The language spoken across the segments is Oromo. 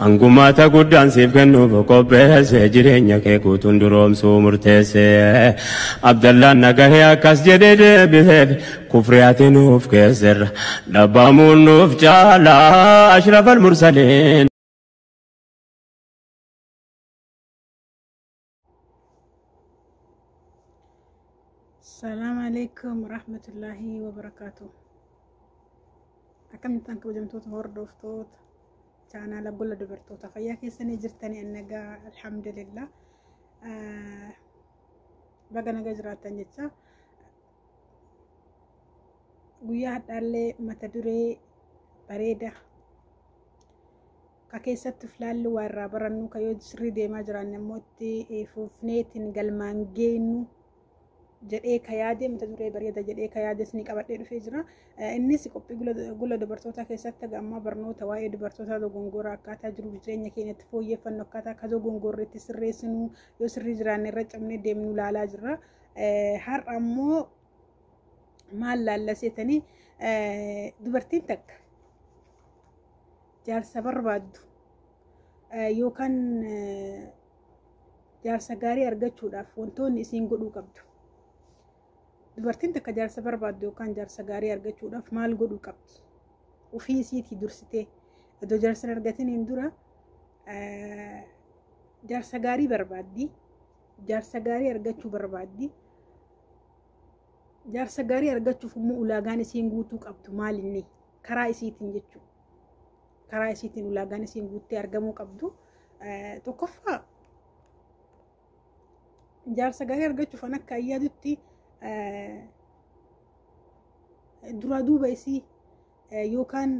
Angumaata guddaan siif kennuuf qopheesse jireenya kee guutuun duroomsuu murteesse. Abdallaan nagahee akkas jedhee deebiseef kufri ati nuuf keesserra dhabbamuun nuuf caala ashrafal mursaliin. Salaam alaikum rahmatullahi wa barakaatu. Akkamittaan kabajamtoota hordoftoota chaanaala gola dubartoota fayyaa keessanii jirtanii annagaa alhamdulillah baga nagaa jiraattan jecha guyyaa hadhaallee mata duree bareeda ka keessatti of laallu waa irraa barannu ka yoo sirrii deemaa jiraanne immoo itti fuufneetiin galmaan geenyu jedhee ka yaade mata duree bareeda jedhee ka yaade isin qabadhee dhufee jira. Innis qophii gula dubartootaa keessatti haga ammaa barnoota waa'ee dubartootaa dogongoraa akkaataa jiruuf jireenya keenyatti fooyyeffannu akkaataa akka dogongorri itti sirreessinu yoo sirrii jiraanne irra cabnee deemnu laalaa jirra. Har'a ammoo maal laalla seetanii dubartiin takka jaarsa barbaaddu yookaan jaarsa gaarii argachuudhaaf wantoonni isiin godhuu qabdu. Dubartiin takka jaarsa barbaaddu yookaan jaarsa gaarii argachuudhaaf maal godhuu qabdi? Ofii isiitii dursitee iddoo jaarsa argataniin dura jaarsa gaarii barbaaddi. Jaarsa gaarii argachuu barbaaddi. Jaarsa gaarii argachuuf immoo ulaagaan isiin guutuu qabdu maalinni karaa isiitiin jechuudha. karaa isiitiin ulaagaan isiin guuttee argamuu qabdu tokkoffaa jaarsa gaarii argachuuf an akka ayyaadutti duraa duuba isii yookaan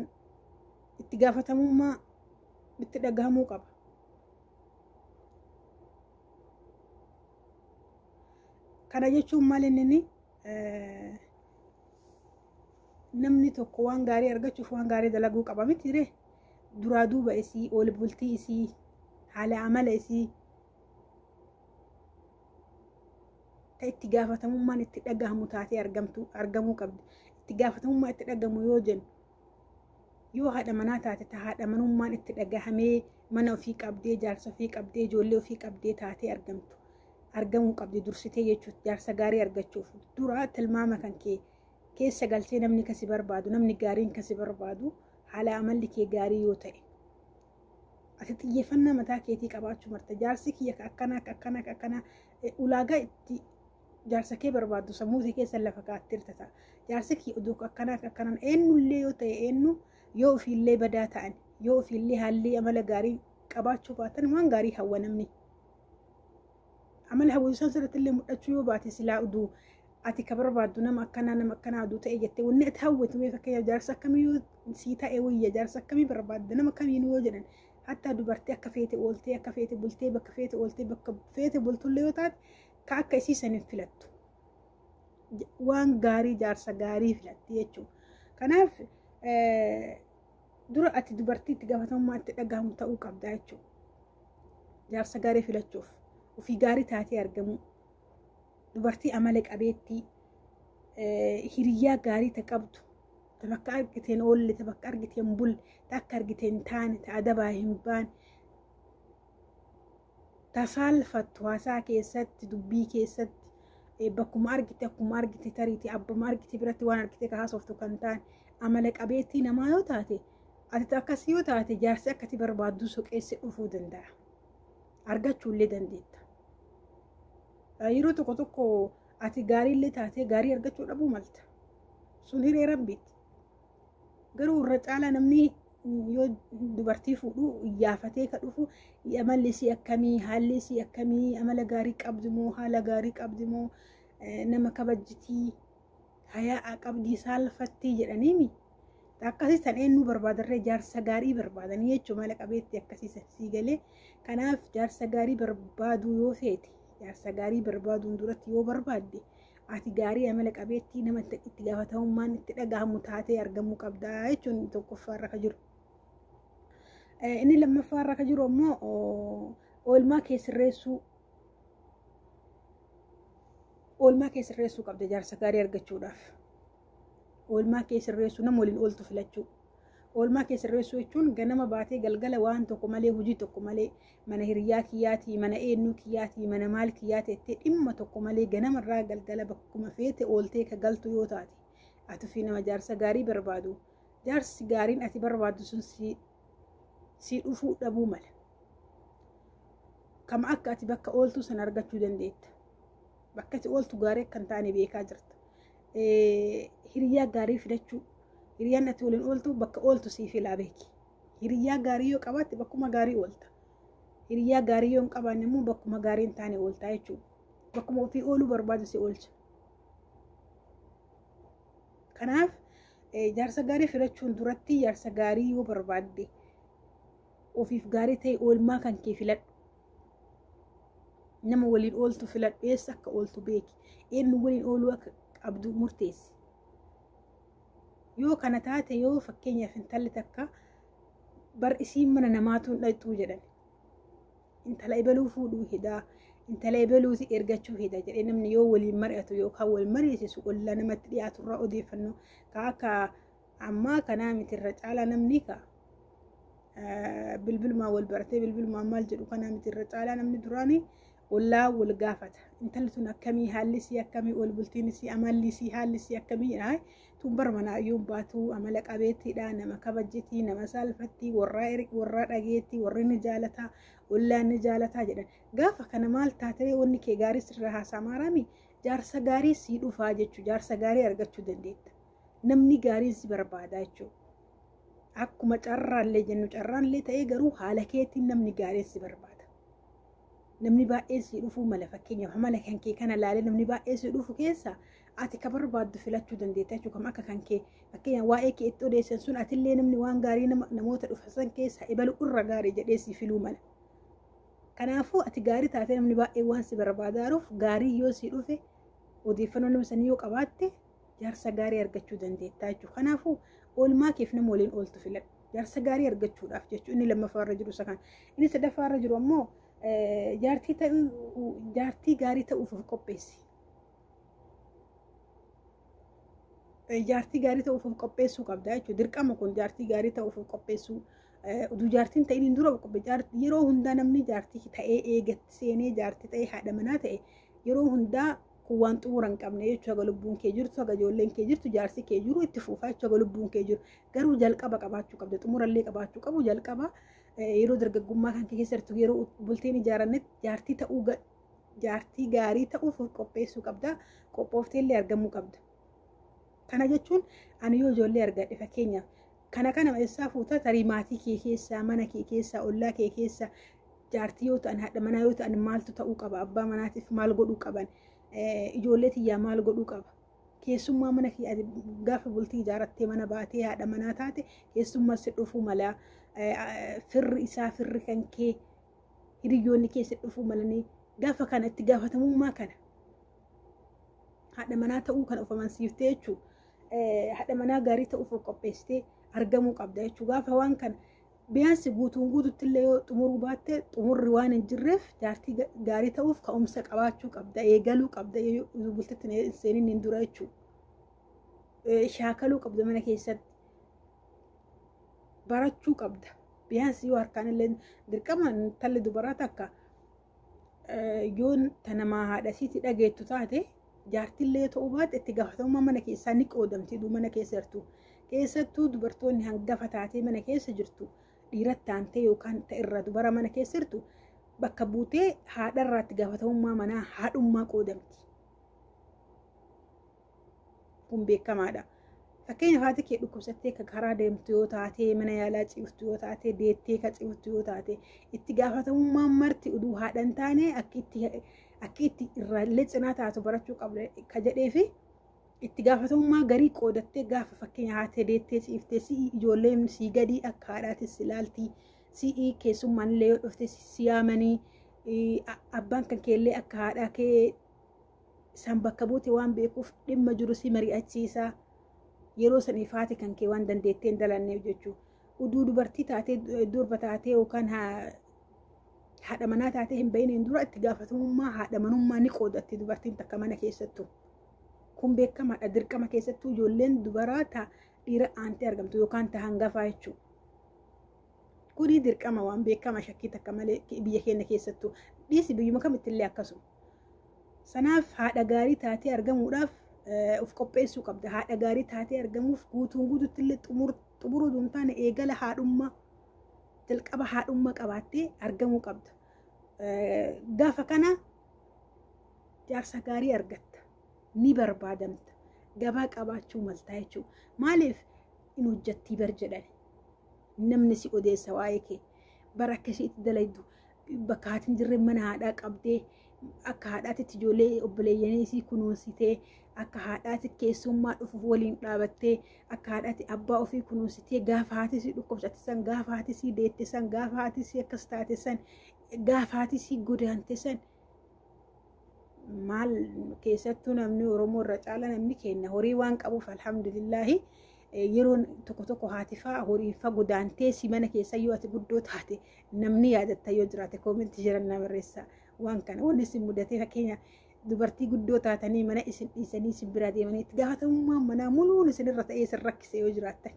itti gaafatamummaa itti dhagahamuu qaba. Kana jechuun maal inni namni tokko waan gaarii argachuuf waan gaarii dalaguu qaba mitiire duraa duuba isii ol bultii isii haala amala isii ta itti gaafatamummaan itti dhagahamu taatee argamtu argamuu qabdi itti gaafatamummaa itti dhagahamu yoo jennu yoo haadha manaa taate ta haadha manummaan itti dhagahamee mana ofii qabdee jaarsa ofii qabdee ijoollee ofii qabdee taatee argamtu argamuu qabdi dursitee jechuudha jaarsa gaarii argachuuf duraa tilmaama kan kee keessa galchee namni ka si barbaadu namni gaariin ka si barbaadu haala amalli kee gaarii yoo ta'e ati xiyyeeffannaa mataa keetii qabaachuu marta jaarsi kiyya ka akkanaa ka akkanaa ka akkanaa eh, ulaagaa itti jaarsa kee barbaaddu sammuu kee keessa lafa kaa'atteerta ta'a jaarsi kiyya oduu ka akkanaa ka akkanaan eenyullee yoo ta'e eenyu yoo ofiillee badaa ta'an yoo ofiillee haalli amala gaarii qabaachuu baatan waan gaarii hawwa namni Amali hawwii san sirratti illee mul'achuu yoo baate silaa uduu ati ka barbaaddu nama akkanaa nama akkanaa aduu ta'e jettee wanni ati hawwitu mee fakkeenyaaf jaarsa akkamii yoo sii ta'e wayya jaarsa akkamii barbaadda nama kamiinuu yoo jedhan hattaa dubartii akka feete ooltee akka feete bultee bakka feete ooltee bakka feete bultullee yoo taate ka akka isii san hin filattu waan gaarii jaarsa gaarii filatti jechuudha kanaaf dura ati dubartii itti gaafatamummaa itti dhagahamu ta'uu qabdaa jechuudha. Jaarsa gaarii filachuuf ofii gaarii taatee argamuu dubartii amala qabeettii hiriyyaa gaarii ta qabdu ta bakka argiteen oolle ta bakka argiteen bulle ta akka argiteen taane ta adabaa hin baane tasaalfattu haasaa keessatti dubbii keessatti eh, bakkuma argite akkuma argite tariiti abbuma argite biratti waan argite ka haasoftu kan taane amala qabeettii namaa yoo taate ati akkasii yoo taate jaarsi akkati barbaaddu soqeessi dhufuu danda'a argachuullee dandeetta Eh, yeroo tokko tokko ati gaariillee taatee gaarii argachuu dhabuu malta sun hiree rabbiiti Garuu irra caalaa namni yoo dubartii fuudhu iyyaafatee ka dhufu amalli isii akkamii haalli isii akkamii amala gaarii qabdi moo haala gaarii qabdi moo nama kabajjitii hayaa qabdii saalfattii jedhaniimi akkasii san eenyuu barbaadarree jaarsa gaarii barbaadanii jechuun mala qabeetti akkasii sii galee kanaaf jaarsa gaarii barbaaduu yoo feete jaarsa gaarii barbaaduun duratti yoo barbaadde ati gaarii amala qabeettii nama itti gaafatamummaan itti dhagahamu taatee argamuu qabda jechuun tokkoffaa irra ka jiru. Inni lammaffaa irra ka jiru ammoo oolmaa kee sirreessuu oolmaa kee sirreessuu qabda jaarsa gaarii argachuudhaaf. Oolmaa kee sirreessuu nama waliin ooltu filachuu. Oolmaa kee sirreessuu jechuun ganama baatee galgala waan tokko malee hojii tokko malee mana hiriyaa kiyyaatii mana eennuu kiyyaatii mana maal kiyyaa teettee dhimma tokko malee ganamarraa galgala bakkuma feete ooltee ka galtu yoo taate atufi nama jaarsa gaarii barbaadu jaarsi gaariin ati barbaaddu sun si dhufuu dhabuu mala kama akka ati bakka ooltuu sana argachuu dandeetta bakka ati ooltu gaarii akka hin taane beekaa jirta hiriyaa gaarii filachuu hiriyaan ati waliin ooltu bakka ooltu siif ilaa beeki Hiriyaa gaarii yoo qabaatte bakkuma gaarii oolta. Hiriyaa gaarii yoo hin qabaanne immoo bakkuma gaarii hin taane oolta jechuudha. Bakkuma ofii ooluu barbaadu si oolcha. Kanaaf jaarsa gaarii filachuun duratti jaarsa gaarii yoo barbaadde ofiif gaarii ta'e oolmaa kan kee filadhu. Nama waliin ooltu filadhu eessa akka ooltu beeki. Eenyu waliin ooluu akka qabdu murteessi. Yoo kana taate yoo fakkeenyaaf intalli takka bar isiin mana namaatuun dhaqxuu jedhan intala ebeluu fuudhuu hedaa intala ebeluuti ergachuu heda jedhee namni yoo waliin mari'atu yookaan wal mariisisu ollaa namatti dhiyaaturraa odeeffannoo ka akka ammaa kanaa miti irra caalaa namni ka bilbilumaan wal baratee bilbilumaan maal jedhu kanaa miti irra caalaa namni duraanii Ollaan wal gaafata. Intalli tun akkamii haalli isii akkamii ol bultiin isii amalli isii haalli isii akkamii aay tun bar manaa yoon baatu amala qabeettiidha nama kabajjiti nama saalfatti warraa eri warraa dhageetti warri ni jaalata ollaan ni jaalataa jedhan gaafa kana maal taatee wanni kee gaarii sirra haasaa maaraami jaarsa gaarii sii dhufaa jechuu jaarsa gaarii argachuu dandeetta namni gaariin si barbaadaa jechuudha. Akkuma carraallee jennu carraallee ta'ee garuu haala keetiin namni gaariin si barbaada. namni baay'een sii dhufuu mala fakkeenyaaf amala kan kee kana laalee namni baay'een sii dhufu keessa ati ka barbaaddu filachuu dandeetta jechuudha kam akka kan kee fakkeenyaaf waa'ee kee itti odeessan sun atillee namni waan gaarii namoota dhufan keessa ebalu irra gaarii jedhee sii filuu mala. Kanaafuu ati gaarii taatee namni baay'een waan si barbaadaaruuf gaarii yoo sii dhufe odeeffannoo nama sanii yoo qabaatte jaarsa gaarii argachuu dandeettaa jechuudha. Kanaafuu oolmaa keef nama waliin ooltu filadhu. Jaarsa gaarii argachuudhaaf jechuun inni lammaffaa irra jiru isa kana. Inni sadaffaa irra jiru ammoo jaartii ta'uu jaartii gaarii ta'uuf of qopheessi. Jaartii gaarii ta'uuf of qopheessuu qabda jechuudha. Dirqama kun jaartii gaarii ta'uuf of qopheessuu. Utuu jaartiin ta'in hin dura of qopheessu. Yeroo hundaa namni jaartii ta'ee eegatti seenee jaartii ta'ee haadha manaa ta'e yeroo hundaa kun waan xumura hin qabne jechuudha haga lubbuun kee jirtu haga ijoolleen kee jirtu jaarsi kee jiru itti fuufaa jechuudha haga lubbuun kee jiru garuu jalqaba qabaachuu qabda xumurallee qabaachuu qabu jalqaba yeroo dargaggummaa kan kee keessattu yeroo bultiin ijaarannetti jaartii ta'uu jaartii gaarii ta'uuf of qopheessuu qabda qophoofteellee argamuu qabda. Kana jechuun ani yoo ijoollee argadhe fakkeenyaaf kana kana eessaa fuuta tarii maatii kee keessaa mana kee keessaa ollaa kee keessaa jaartii yoo ta'an haadha manaa yoo ta'an maaltu ta'uu qaba abbaa manaatiif maal godhuu qaban ijoollee tiyyaa maal godhuu qaba keessummaa mana kee ati gaafa bultii ijaarattee mana baatee haadha manaa taate keessummaa si dhufuu mala firri isaa firri kan kee hiriyoonni kee si dhufuu malanii gaafa kana itti gaafatamummaa kana haadha manaa ta'uu kana of amansiiftee jechuudha. Haadha manaa gaarii ta'uuf of qopheessitee argamuu qabda jechuudha. Gaafa waan kana biyaansi guutuun guututti illee yoo xumuruu baatte xumurri waan hin jirreef jaartii gaarii ta'uuf ka'umsa qabaachuu qabda eegaluu qabda bultitti hin seenin hin dura jechuudha. Shaakaluu qabda mana keessatti barachuu qabda. Biyaansi yoo harkaan illee dirqama intalli dubaraa takka yoon tanamaa haadha siiti dhageettu taate jaartillee ta'uu baate itti gaafatamummaa mana keessaa ni qoodamti duu mana keessa jirtu keessattuu dubartoonni hangafa taatee mana keessa jirtu dhiiratti taantee yookaan ta'erra dubara mana keessa jirtu bakka buutee haadharraatti gaafatamummaa manaa haadhummaa qoodamti. kun beekamaadha. Fakkeenyaaf haati kee dhukkubsattee ka karaa deemtu yoo taate, mana yaalaa ciiftu yoo taate, deettee ka ciiftu yoo taate, itti gaafatamummaan marti uduu haadha hin taane akki itti akki itti irraallee cinaa taatu barachuu qabda ka jedhee fi itti gaafatamummaa garii qoodattee gaafa fakkeenya haatee deettee ciiftee si'i ijoolleen sii gadii akka haadhaatis si laalti si'i keessummaan illee yoo dhufte si yaamanii abbaan kan keellee akka haadhaa kee Isaan bakka buute waan beekuuf dhimma jiru si mari'achiisa. Yeroo saniif haati kan kee waan dandeettee hin dalanneef jechuudha. Uduu dubartii taatee durba taatee yookaan haadha manaa taatee hin bahiniin dura itti gaafatamummaa haadha manummaa ni qoodatti dubartiin takka mana keessattu. Kun beekamaadha dirqama keessattuu ijoolleen dubaraa ta dhiira aantee argamtu yookaan ta hangafaa jechuudha. Kuni dirqama waan beekama shakkii takka malee biyya keenya keessattuu dhiisi biyyuma kamittillee akkasuma. Sanaaf haadha gaarii taatee argamuudhaaf of qopheessuu qabda. Haadha gaarii taatee argamuuf guutuun guututti illee xumuruu duun taane eegala haadhummaa jalqaba haadhummaa qabaattee argamuu qabda. Gaafa kana jaarsa gaarii argatta. Ni barbaadamta. Gabaa qabaachuu maltaa jechuudha. Maaliif hin hojjettii bar jedhan. Namni si odeessa waa'ee kee. Bara akka ishiitti dalaydu. bakka haati hin jirre mana haadhaa qabdee akka haadhaatitti ijoollee obboleeyyanii isii kunuunsitee akka haadhaatti keessummaa dhufuuf waliin dhaabattee akka haadhaatti abbaa ofii kunuunsitee gaafa haati isii dhukkubsatte san gaafa haati isii deette san gaafa haati isii akkas taate san gaafa haati isii godaante san maal keessattuu namni oromoo irra caala namni kenna horii waan qabuuf alhamdulillaahi yeroon tokko tokko haatifaa horiifaa godaantee si mana keessa yoo ati guddoo taate namni yaadatta yoo jiraate koomentii jiran na barreessa waan kana wanni isin mudatee fakkeenya dubartii guddoo taatanii mana isin dhiisanii isin biraa deemanii itti gaafatamummaan manaa muluun isin irra ta'ee isin rakkise yoo jiraattan.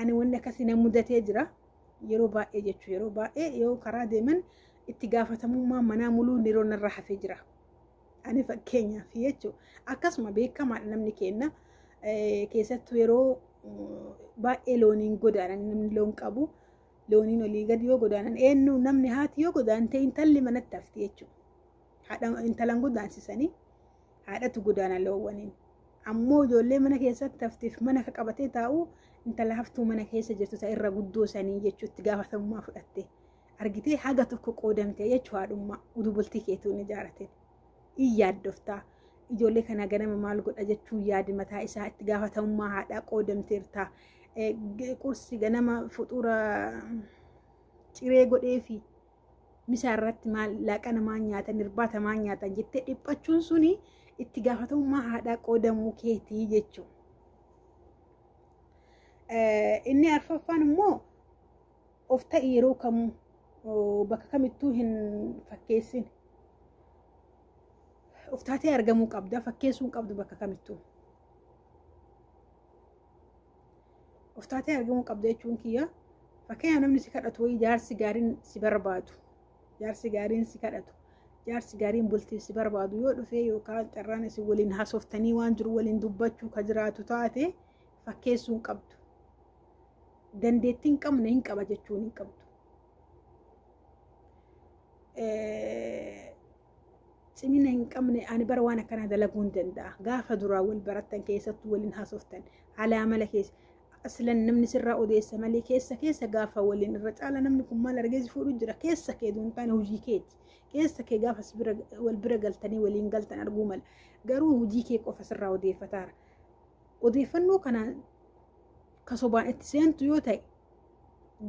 Ani wanni akkasii na mudatee jira yeroo baay'ee jechuun yeroo baay'ee yoo karaa deeman itti gaafatamummaan manaa muluun yeroo narra hafee jira. Ani fakkeenyaaf jechuun akkasuma beekamaadha namni keenna keessattuu yeroo baay'ee looniin godaanan namni loon qabu looniin olii gadi yoo godaanan eenyu namni haati yoo godaante intalli manatti hafti jechuudha. Haadha intalan godaansisanii haadhatu godaana loowwaniin. Ammoo ijoollee mana keessatti haftiif mana ka qabatee taa'u intala haftuu mana keessa jirtu isa irra guddoo sanii jechuutti gaafatamummaa fudhatte. argitee haga tokko qoodamtee jechuu haadhummaa utuu bultii keetuu hin ijaaratin in yaaddoftaa ijoollee kana ganama maal godha jechuun yaadi mataa isaa itti gaafatamummaa haadhaa qoodamteerta qursi ganama fuxuura ciree godhee fi misaa irratti maal laaqana maal nyaatan irbaata maal nyaatan jettee dhiphachuun suni itti gaafatamummaa haadhaa qoodamuu keetii jechuun. Inni arfaffaan immoo Of ta'i yeroo kamuu oo, bakka kamittuu hin fakkeessin. Of taatee argamuu qabda fakkeessuu hin qabdu bakka kamittuu. Of taatee argamuu qabda jechuun kiyya fakkeenyaaf namni si kadhatu wayii jaarsi gaariin si barbaadu jaarsi gaariin si kadhatu jaarsi gaariin bultiif si barbaadu yoo dhufee yookaan carraan isin waliin haasoftanii waan jiru waliin dubbachuu ka jiraatu taate fakkeessuu hin qabdu. dandeettii hin qabne hin qaba jechuun hin qabdu. Cimina hin qabne ani bara waan akkanaa dalaguu hin danda'a. Gaafa duraa wal barattan keessattuu waliin haasoftan haala amala keessa aslan namni sirraa odeessa malee keessa keessa gaafa waliin irra caala namni kun maal argee si fuudhu jira keessa kee duun taane hojii keeti. Keessa kee gaafa wal bira galtanii waliin galtan arguu mala. Garuu hojii kee qofa sirraa odeeffataara. Odeeffannoo kanaan ka sobaan itti seentu yoo ta'e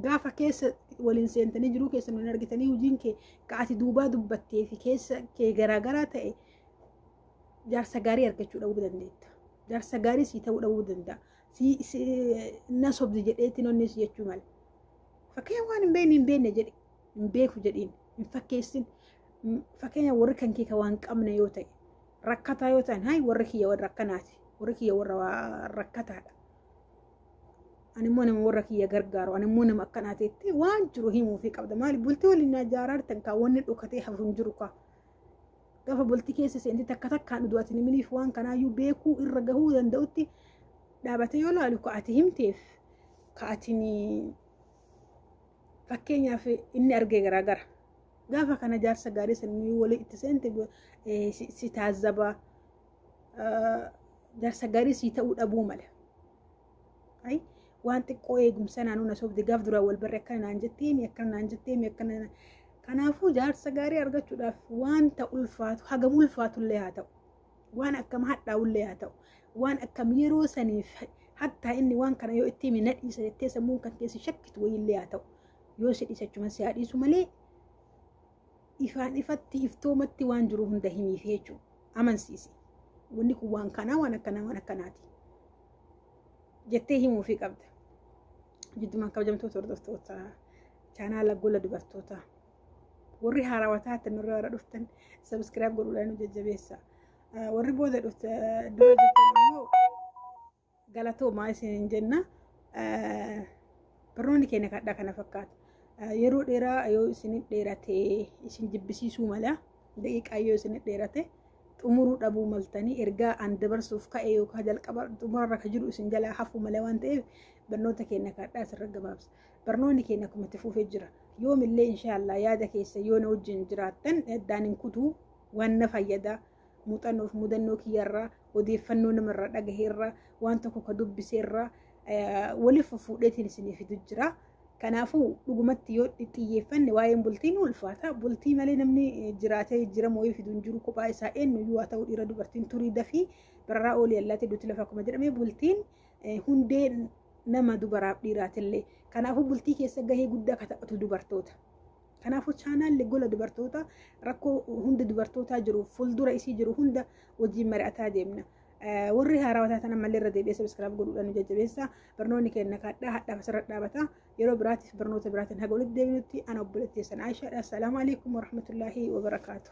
gaafa keessa waliin seentanii jiruu keessan waliin argitanii hojiin kee ka ati duubaa dubbattee fi keessa kee garaagaraa ta'e jaarsa gaarii argachuu dhabuu dandeetta. Jaarsa gaarii sii ta'uu dhabuu danda'a. Sii sii- na sobdi jedheetti nonni si jechuu mala. Fakkeenyaaf waan hin beekne hin beekne jedhi. Hin beeku jedhiin. Hin fakkeessin. fakkeenya warri kan kee waan qabne yoo ta'e rakkataa yoo ta'an hayi warri kiyya warra akkanaati warri kiyya warra rakkataadha. Animmoo nama warra kiyya gargaaru animmoo nama akkanaati jettee waan jiru himuufii qabda maali bultii waliin ijaaraa jirtan kaa wanni dhokatee hafu hin jiru kaa. Gaafa bultii keessa seentee takka takkaan utuu ati himiniif waan kanaayyuu beekuu irra gahuu danda'utti dhaabatee yoo laalu ka ati himteef ka ati fakkeenyaaf inni argee garaagara. Gaafa kana jaarsa gaarii sanii walii itti seente eh, si si taazzaba. Eh, Jaarsa gaarii sii ta'uu dhabuu mala. Ayi, waan xiqqoo eegumsa naannoo na sobde gaaf duraa wal barre akkana naan jetteemi akkana naan jetteemi akkana naan- kanaafuu jaarsa gaarii argachuudhaaf wanta ulfaatu hagam ulfaatullee haa ta'u waan akkam hadhaa'ullee haa ta'u waan akkam yeroo saniif hattaa inni waan kana yoo itti hime na dhiisa jettee sammuun kan keessi shakkitu wayiillee haa ta'u yoo si dhiisachuman si haa dhiisu malee ifaan ifatti iftoomatti waan jiru hunda himiif jechuun amansiisi wanni kun waan kanaa waan akkanaa waan akkanaati jettee himuufii qabda jiddumaan kabajamtoota hordoftoota chaanaala gola dubartootaa. warri haarawaa taatan warri haaraa dhuftan sabiskiraayib godhuudhaan nu jajjabeessa warri booda dhufta dura jirtan immoo galatoomaa isiniin jenna barnoonni keenya kadhaa kana fakkaata yeroo dheeraa yoo isin dheerate isin jibbisiisuu mala daqiiqaa yoo isin dheerate xumuruu dhabuu maltanii ergaa an dabarsuuf ka'e yookaan jalqaba xumurarra kan jiru isin jalaa hafuu mala waan ta'eef barnoota keenya kadhaa asirra gabaabsa. Barnoonni keenya akkuma itti fuufee jira. Yoomillee inshaallah yaada keessa yoo na wajjin jiraattan addaan hin kutuu waan na fayyada. Muuxannoof mudannoo kiyyarraa odeeffannoo namarraa dhagaheerraa waan tokko ka dubbiseerraa waliif fuudheetiin isinii fidu jira. Kanaafuu dhugumatti yoo xiyyeeffanne waa'een bultii ni ulfaata. Bultii malee namni jiraatee jijjiirama wayii fidu hin jiru kophaa isaa eenyuyyuu haa ta'u dhiira dubartiin turii dafii bararaa oolii allaatee duuti lafa akkuma jedhame bultiin hundee nama dubaraaf dhiiraatillee. Kanaafuu bultii keessa gahee guddaa akka taphatu dubartoota. Kanaafuu chaanaalli gola dubartoota rakkoo hunda dubartootaa jiru fuuldura isii jiru hunda wajjin mari'ataa deemna. Warri haarawaa taatan ammallee irra deebi'ee sabiskiraaf godhuudhaan nu jajjabeessa. Barnoonni keenya kaadhaa hadhaaf asirra dhaabata. Yeroo biraatiif barnoota biraatiin haga walitti deebinutti ana obboleettii keessan Aishaadha. Assalaamu alaikum warahmatullaahi wabarakaatu.